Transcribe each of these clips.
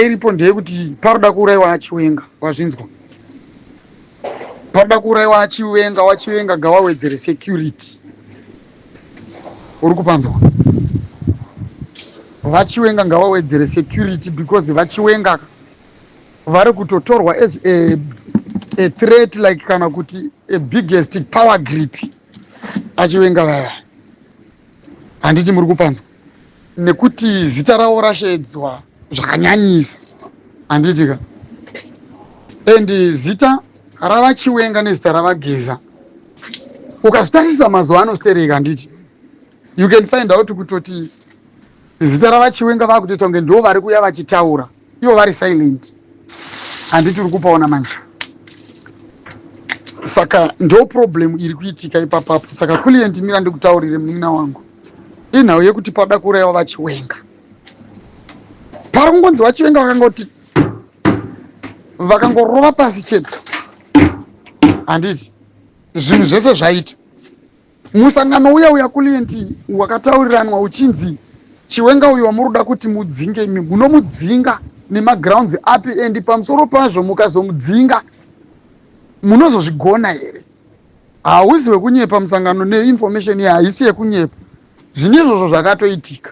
iripo ndeyekuti paroda kuuraiwa achiwenga wazvinzwa paroda kuuraiwa achiwenga wachiwenga gawawedzere security uri kupanzwa vachiwenga ngavawedzere security because vachiwenga vari kutotorwa as a, a threat like kana kuti a biggest power grip achiwenga vaya handiti muri kupanzwa nekuti zita ravo rashedzwa zvakanyanyisa handiti ka and zita ravachiwenga nezita ravageza ukazvitarisisa mazuva ano stereka handiti you can find out kutoti zita ravachiwenga vakutoita kunge ndo vari kuya vachitaura ivo vari silent handiti uri kupaona manje saka ndo problem iri kuitika ipapapo saka kulient mira ndikutaurire munin'ina wangu inhau yekuti pada kuuraiwa vachiwenga pari kungonzi vachivenga vakangoti vakangorova pasi chete handiti zvinhu zvese zvaita musangano uya uya kulienti wakatauriranwa uchinzi chiwenga uyu wamuri kuda kuti mudzinge imi munomudzinga nemagrounds api and pamusoro pazvo mukazomudzinga munozozvigona here hausi wekunyepa musangano neinformation iyi haisi yekunyepa zvine izvozvo zvakatoitika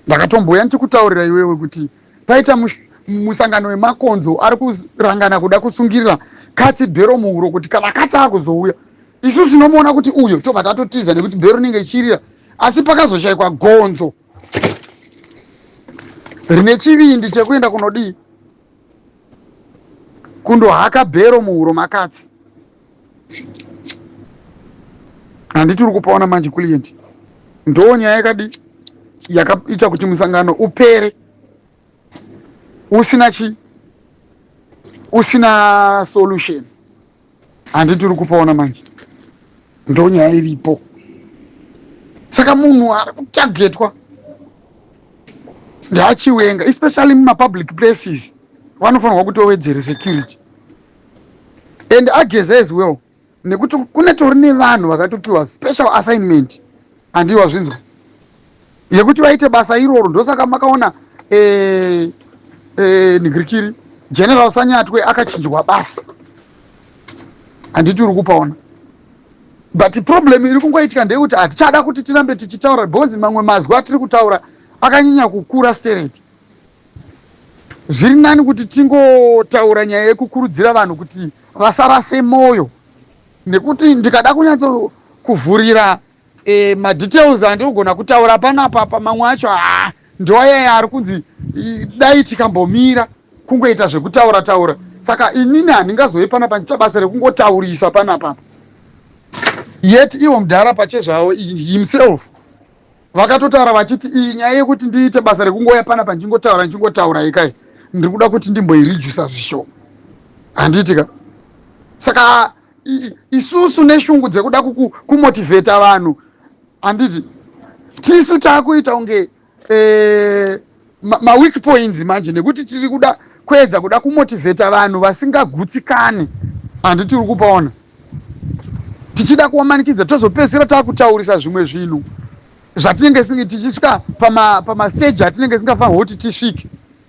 ndakatombouya ndichikutaurira iwewe kuti paita musangano wemakonzo ari kurangana kuda kusungirira katsi bhero muhuro kuti kana katsi akuzouya isu tinomuona kuti uyo tobva tatotiza nekuti bhero inenge ichirira asi pakazoshaikwa gonzo rine chivindi chekuenda kunodii kundohaka bhero muhuro makatsi handiti uri kupaona manje kulient ndoo nyaya yakadi yakaita kuti musangano upere usina chi usina solution handiti uri kupaona manje ndoo nyaya iripo saka munhu ari kutagetwa ndaachiwenga especially mumapublic places vanofanirwa kutowedzere security and ageze as well nekuti kune tori nevanhu vakatopiwa special assignment handiyi wazvinzwa yekuti vaite basa iroro ndosaka makaona eh, eh, nigirikiri general sanyatwe akachinjwa basa handiti uri kupaona but problem iri kungoitika ndeyekuti hatichada kuti tirambe tichitaura because mamwe mazwi atiri kutaura akanyanya kukura stereki zviri nani kuti tingotaura nyaya yekukurudzira vanhu kuti vasarase mwoyo nekuti ndikada kunyatso kuvhurira e, madetails andigona kutaura panapa pamamwe acho haa ndoayaya ari kunzi dai tikambomira kungoita zvekutaura taura saka inini handingazoe panapa ndiita basa rekungotaurisa panapapa yet ivo mudhara pachezvavo himself vakatotaura vachiti iyi nyaya yekuti ndiite basa rekungoya pana pandingotaura ndichingotaura ikai ndiri kuda kuti ndimboirijusa zvishoma handiitika saka isusu neshungu dzekuda kumotivheta vanhu handiti tisu taakuita kunge e, maweak ma points manje nekuti tiri kuda kuedza kuda kumotivheta vanhu vasingagutsikane handi tiri kupaona tichida kuvamanikidza tozopedzisira taakutaurisa zvimwe zvinhu zvatinenge singe tichisvika pamasteji pama atinenge singafanirwa kuti tisvike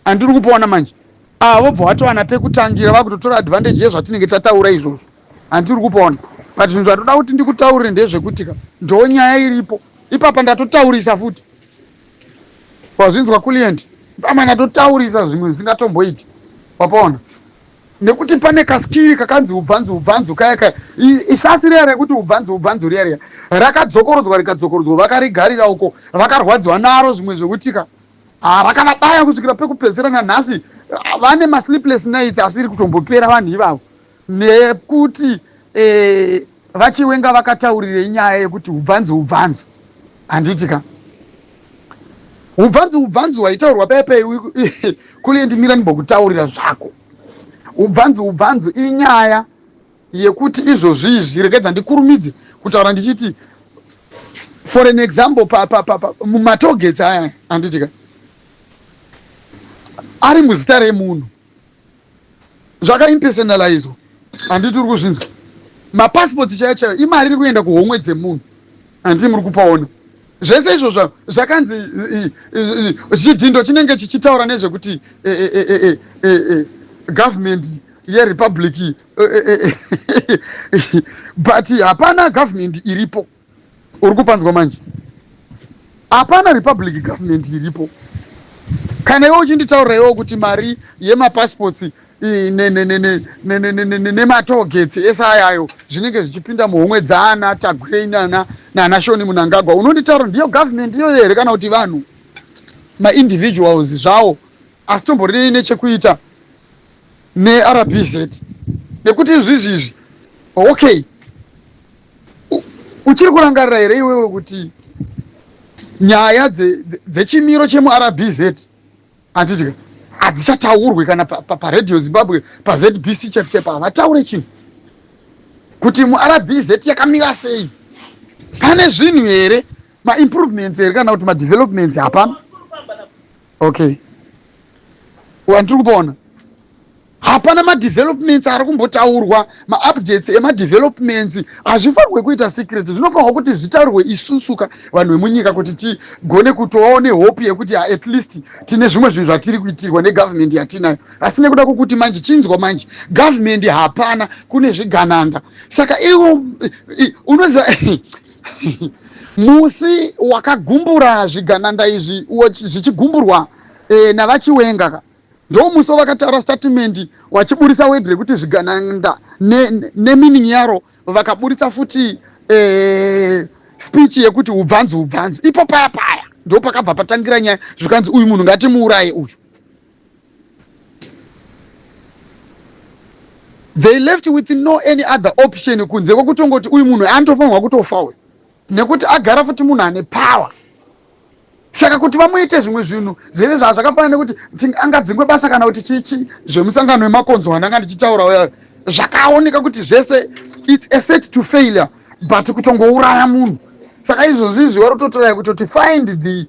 andiri kupaona manje ava ah, vobva vatowana pekutangira vakutotora advantage yezvatinenge tataura izvozvo handiri kupaona but zvinhu zvatoda kuti ndikutaurire ndezvekuti ka ndoo nyaya iripo ipapa ndatotaurisa futi wazvinzwa kulient amana totaurisa zvimwe zvisingatomboiti wapaona nekuti pane kaskiri kakanzi ubvanzi ubvanzi kaya kaya isasi riya rekuti ubvanzi ubvanzi riya riya rakadzokorodzwa rikadzokorodzwa vakarigarira uko vakarwadziwa naro zvimwe zvekutika ah, rakavabaya kusvikira pekupedzisira nanhasi ah, vane masleepless nights asiri kutombopera vanhu ivavo nekuti eh, vachiwenga vakataurirei nyaya yekuti ubvanzi ubvanzi handiti ka ubvanzi ubvanzi waitaurwa pepe kulie ndimira ndimbokutaurira zvako ubvanzi ubvanzi inyaya yekuti izvozvi izvi regedza ndikurumidze kutaura ndichiti for an example mumatogets aya handiti ka ari muzita remunhu zvakaimpersonalizwa handiti uri kuzvinzwa mapassports chaiyo chaiyo imari iri kuenda kuhomwe dzemunhu handii muri kupaona zvese izvozvo zvakanzi chidhindo chinenge chichitaura nezvekuti e, e, e, government yerepublic but hapana government iripo uri kupanzwa manje hapana republic government iripo kana iwe uchinditaurira iwo kuti mari yemapassports nematogetsi ese ayayo zvinenge zvichipinda muhomwe dzaana tagwirei nana nana shoni munangagwa unonditaura ndiyo government iyoyo here kana kuti vanhu maindividuals zvawo asi tomborinei nechekuita nerbz nekuti izvizvi izvi okay uchiri kurangarira here iwewe kuti nyaya dzechimiro dze, dze chemurbz handidika hadzichataurwe kana paradio pa, pa zimbabwe pazbc chapchapa havataure chinhu kuti murbz yakamira sei pane zvinhu here maimprovements here kana kuti madevelopments hapana okay wandiri kupaona hapana madevelopments ari kumbotaurwa maupdates emadevelopments hazvifanirwe kuita secret zvinofanirwa kuti zvitaurwe isusuka vanhu vemunyika kuti tigone kutovawo nehope yekuti at least tine zvimwe zvinhu zvatiri kuitirwa negovernment yatinayo asi nekuda kwokuti manje chinzwa manje government hapana kune zvigananda saka ivo unoziva musi wakagumbura zvigananda izvi zvichigumburwa eh, navachiwenga ka ndomusi wavakataura statimendi wachiburitsa wedhi rekuti zvigananda nemining ne yaro vakaburitsa futi eh, speech yekuti ubvanzi ubvanzi ipo paya paya ndopakabva patangira nyaya zvikanzi uyu munhu ngatimuuraye uyu they left with no any other option kunze kwekutongoti uyu munhu antofanirwa kutofa uyu nekuti agara futi munhu ane power saka kuti vamuite zvimwe zvinhu zvese zvaa zvakafanana nekuti angadzingwe basa kana kuti chichi zvemusangano wemakonzo wandanga ndichitaura uya zvakaoneka kuti zvese its a set to failure but kutongouraya munhu saka izvozvi izvi wari kutotorai kutoti find the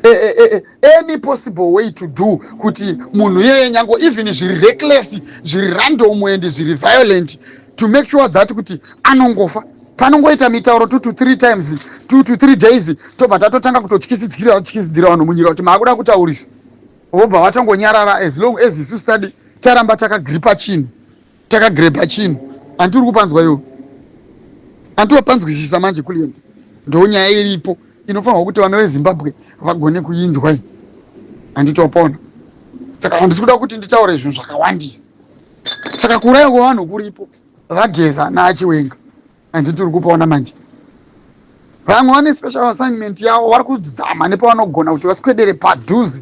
e, e, e, e any possible way to do kuti munhu iyeye nyango even zviri reckless zviri random and zviri violent to make sure that kuti anongofa panongoita mitauro two to three times two to three days tobva tatotanga kutotyisidzira vatyisidzira vanhu munyika kuti maakuda kutaurisa vobva vatongonyarara as long as isu study taramba takagripa chinhu takagrebha chinhu anti uri kupanzwa iwo anti wapanzwisisa manje kulient ndo nyaya iripo inofanirwa kuti vana vezimbabwe vagone kuinzwa iyi anditopona saka handisi kuda kuti nditaure zvinhu zvakawandisa saka kuuraya kwevanhu kuripo vageza naachiwenga andi tiri kupaona manje vamwe vane special assignment yavo vari kuzama nepavanogona kuti vasikwedere padhuze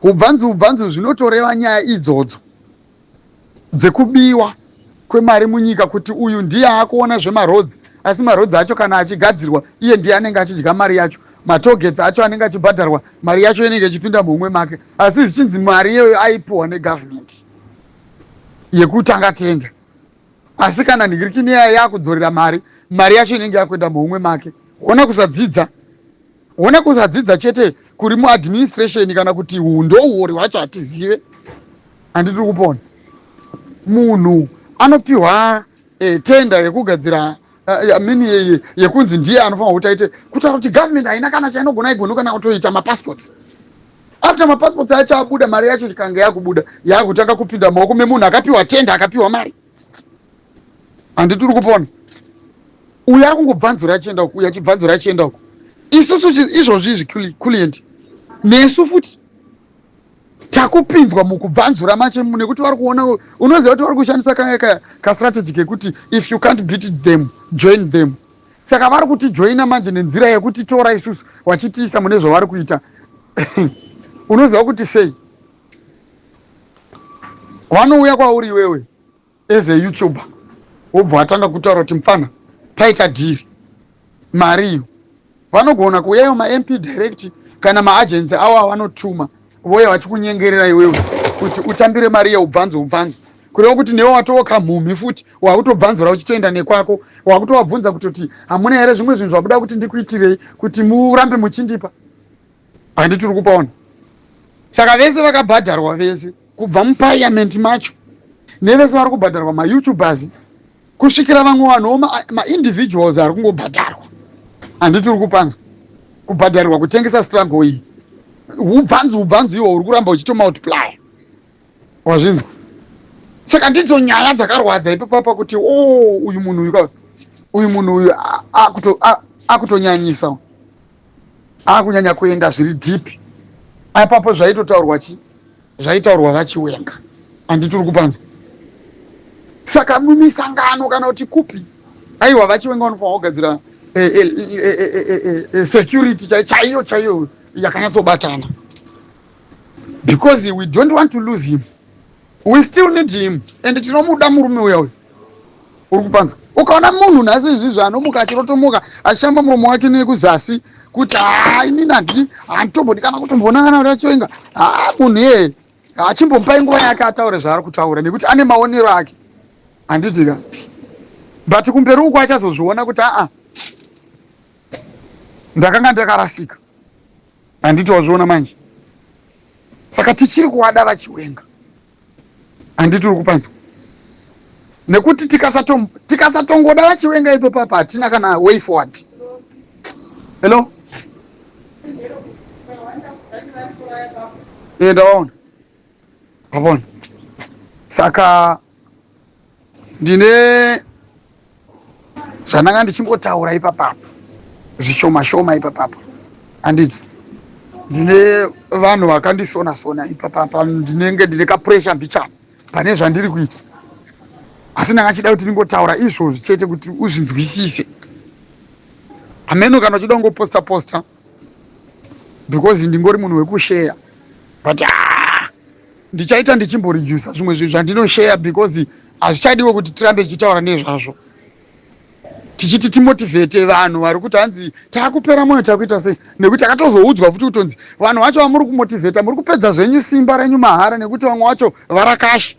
Hubvanzi hubvanzi zvinotoreva nyaya idzodzo dzekubiwa kwemari munyika kuti uyu ndiye akuona zvemarodzi asi marodzi acho kana achigadzirwa iye ndiye anenge achidya mari yacho matogets acho anenge achibhadharwa mari yacho inenge ichipinda muhumwe make asi zvichinzi mari iyoyo aipiwa negovernment yekutanga tenda asi kana nhikirikini yaya yakudzorera mari mari yacho inenge yakuenda muhumwe make ona kusadzidza Hona kusadzidza chete kuri mu administration kana kuti ndouwori hwacho hatizive handi tiri kupona. Munhu anopiwa eh, tenda yekugadzira eh, mini yeye yekunzi ndiye anofanira kuti aite kutaura kuti government haina kana chainogona igono kana kutoita mapassports after mapassports acho abuda mari yacho chikange yakubuda yakutanga kupinda maoko memunhu akapiwa tenda akapiwa mari handiti uri kupona uyo ari kungobvanzura achienda uku uyo achibvanzura achienda uku isusu izvozvi izvi kuliendi nesu futi takupinzwa mukubvanzura mache nekuti vari kuona unoziva kuti vari kushandisa kastrategy kekuti if you can't beat them join them saka vari kuti joina manje nenzira yekuti tora isusu vachitiisa mune zvavari kuita unoziva kuti sei vanouya kwauri iwewe as a youtuber wobva watanga kutaura kuti mupfana paita dhiri mari iyo vanogona kuuya ivo mamp direct kana maagency avo avanotuma vouya vachikunyengerera iwewe kuti utambire mari iyo ubvanzo ubvanzo kureva kuti newe watowo kamhumhi futi wakutobvanzura uchitoenda nekwako wakutovabvunza kutoti hamuna here zvimwe zvinhu zvabuda kuti ndikuitirei kuti murambe muchindipa handiti uri kupaona saka vese vakabhadharwa vese kubva mupariamenti macho nevese vari kubhadharwa mayoutubers kusvikira vamwe vanhuwo maindividuals ma ari kungobhadharwa handiti uri kupanzwa kubhadharirwa kutengesa struggle iyi ubvanzi ubvanzi iwo uri kuramba uchitomultiplya wazvinzwa saka ndidzo nyaya dzakarwadza ipapapa kuti o oh, uyu munhu uyu uyu munhu uyu akutonyanyisa akunyanya kuenda zviri deep apapo zvaitotaurwa chi zvaitaurwa vachiwenga handi tiri kupanzwa saka mumisangano kana kuti kupi aiwa vachiwenga vanofanira kugadzira eh, eh, eh, security chaiyo chaiyo yakanyatsobatana because we don't want to lose him we still need him and tinomuda murume uya uyu uri kupanza ukaona munhu nhasi izvizvi anomuka achirotomuka achishamba muromo wake nekuzasi kuti haa inini handii handitombodi kana kutomboona kana kuti achoinga haa munhu iyeye achimbomupai nguva yake ataure zvaari kutaura nekuti ane maonero ake handitika but kumberi uku achazozviona kuti aa ndakanga ndakarasika handiti wazviona manje saka tichiri kuwada vachiwenga handiti uri kupanzwa nekuti tikasatongoda tika vachiwenga ipo papa hatina kana way forward hello e ndavaona vavona saka ndine zvandanga ndichingotaura ipapapo zvishoma shoma ipapapo handiti ndine vanhu vakandisona sona ipapapa ndinenge ndine kapuresha mbichana pane zvandiri kuita asi ndanga chida kuti ndingotaura izvozvi chete kuti uzvinzwisise hameno kana uchida kungoposta posta because ndingori munhu wekusheya but ah, ndichaita ndichimboredusa zvimwe zvinhu zvandinosheya because hazvichadiwo kuti tirambe tichitaura nezvazvo tichiti timotivhete vanhu vari kuti hanzi takupera mwoyo takuita sei nekuti akatozoudzwa futi kutonzi vanhu vacho vamuri kumotivheta muri kupedza zvenyu simba renyu mahara nekuti vamwe vacho varakashi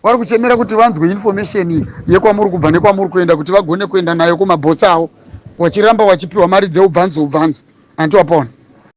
vari kuchemera kuti vanzwe information yekwamuri kubva nekwamuri kuenda kuti vagone kuenda nayo kumabhosi avo wachiramba wachipiwa mari dzeubvanzo ubvanzo hanti wapona